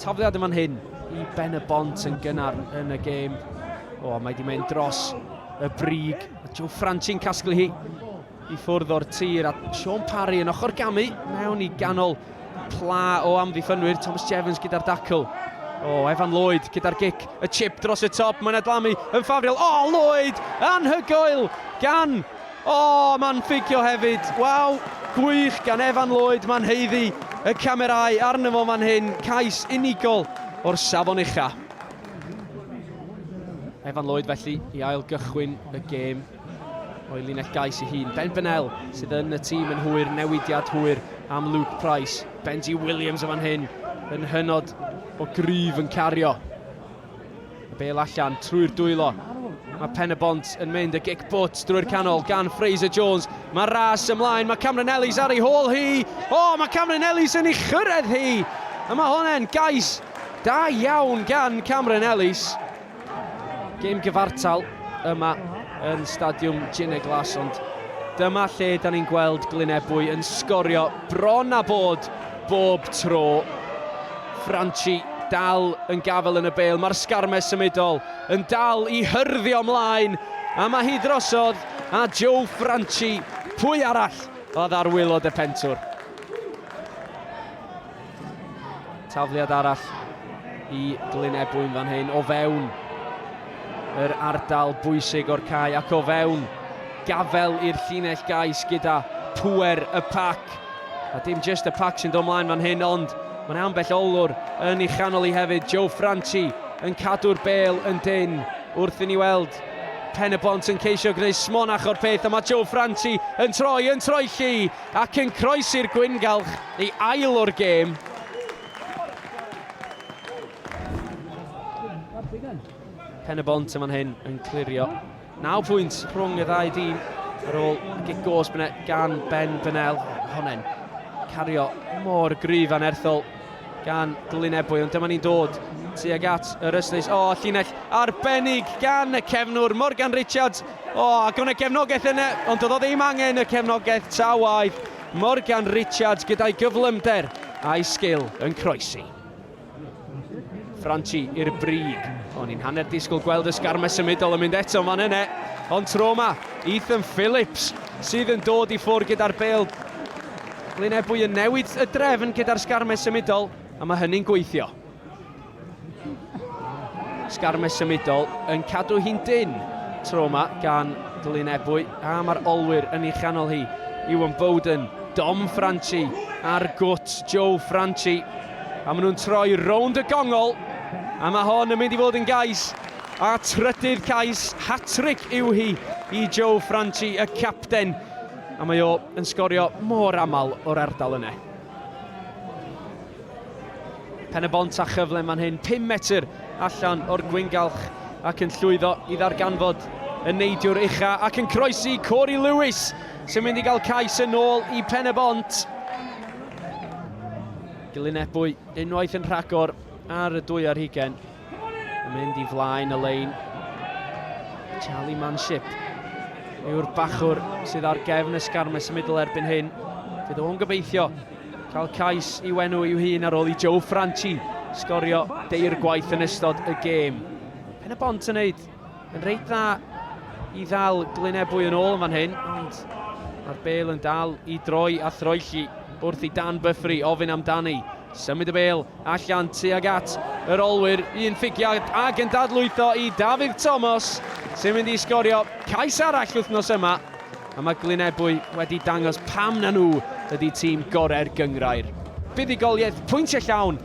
Tafliad yn fan hyn i Ben y Bont yn gynnar yn y gêm. O, mae wedi mynd dros y brig. Joe Franchi'n casglu hi i ffwrdd o'r tir a Sean Parry yn ochr gamu mewn i ganol pla o amddiffynwyr Thomas Jevons gyda'r dacl. O, Evan Lloyd gyda'r gic, y chip dros y top, mae'n adlamu yn ffafriol. O, Lloyd, anhygoel gan O! Mae'n ffeicio hefyd! Waw! Gwych gan Evan Lloyd, mae'n haeddu y camerâu arno fo fan hyn, cais unigol o'r safon ucha. Evan Lloyd felly i ail gychwyn y gêm o'i linell gais ei hun. Ben Bennell sydd yn y tîm yn hwyr, newidiad hwyr am Luke Price. Benji Williams yn fan hyn yn hynod o gryf yn cario. Y bel allan trwy'r dwylo. Mae Pen y Bont yn mynd y gic bwt drwy'r canol gan Fraser Jones. Mae ras ymlaen, mae Cameron Ellis ar ei hôl hi. O, oh, mae Cameron Ellis yn ei chyrraedd hi. A mae hwnna'n gais da iawn gan Cameron Ellis. Gêm gyfartal yma yn Stadiwm Gine Glas, ond dyma lle da ni'n gweld Glynebwy yn sgorio bron a bod Bob tro, Franchi dal yn gafael yn y bêl, mae'r sgarmes symudol yn dal i hyrddio mlaen, a mae hi drosodd a Joe Franchi, pwy arall oedd ar waelod y pentwr. Tafliad arall i Glyn Ebwyn fan hyn, o fewn yr ardal bwysig o'r cae ac o fewn gafel i'r llinell gais gyda pŵer y pac. A dim jyst y pac sy'n dod mlaen fan hyn ond mae'n ambell olwr yn ei chanol i hefyd, Joe Franchi yn cadw'r bel yn dynn wrth i ni weld Pen-y-bont yn ceisio gwneud smonach o'r peth a mae Joe Franchi yn troi, yn troi llu ac yn croesi'r gwyngalch i ail o'r gêm. Pen-y-bont yn fan hyn yn clirio Naw pwynt rhwng y ddau dîm ar ôl gig gos bne gan Ben Bennell. Honne'n cario mor gryf anerthol gan Glyn Ebwy, ond dyma ni'n dod tuag at yr ystlys. O, llinell arbennig gan y cefnwr Morgan Richards. O, ac o'n y gefnogaeth yna, ond oedd o ddim angen y cefnogaeth ta waeth. Morgan Richards gyda'i gyflymder a'i sgil yn croesi. Franchi i'r brig. O'n i'n hanner disgwyl gweld y sgarmau symudol yn mynd eto fan yna. Ond tro yma, Ethan Phillips sydd yn dod i ffwrdd gyda'r bel. Glyn Ebwy yn newid y drefn gyda'r sgarmau symudol, a mae hynny'n gweithio. Sgarmau symudol yn cadw hi'n dyn tro yma gan Glyn Ebwy, a mae'r olwyr yn ei chanol hi. Iwan Bowden, Dom Franchi a'r gwt Joe Franchi. A maen nhw'n troi rownd y gongol. A mae hon yn mynd i fod yn gais. A trydydd cais hat-tric yw hi i Joe Franchi, y capten. A mae o yn sgorio mor aml o'r ardal yna. Pen y bont a chyfle man hyn, 5 metr allan o'r gwyngalch ac yn llwyddo i ddarganfod y neidiwr ucha ac yn croesi Corey Lewis sy'n mynd i gael cais yn ôl i Pen y Bont. Gilyn Ebwy unwaith yn rhagor ar y dwy ar hugen. Yn mynd i flaen y lein. Charlie Manship yw'r bachwr sydd ar gefn y sgarmes y middle erbyn hyn. Fydd o'n gobeithio cael cais i wenu i'w hun ar ôl i Joe Franchi sgorio deir gwaith yn ystod y gêm. Pen y bont yn neud Yn reit dda i ddal Glyn Ebwy yn ôl yn fan hyn, ond mae'r bel yn dal i droi a throelli wrth i Dan Byffri ofyn amdani. Symud y bel allan tuag at yr olwyr, un ffigiad ac yn dadlwytho i Dafydd Tomos sy'n mynd i sgorio cais arall wythnos yma. A mae Glyn Ebwy wedi dangos pam na nhw ydy tîm gorau'r gyngrair. Buddugoliaeth pwyntiau llawn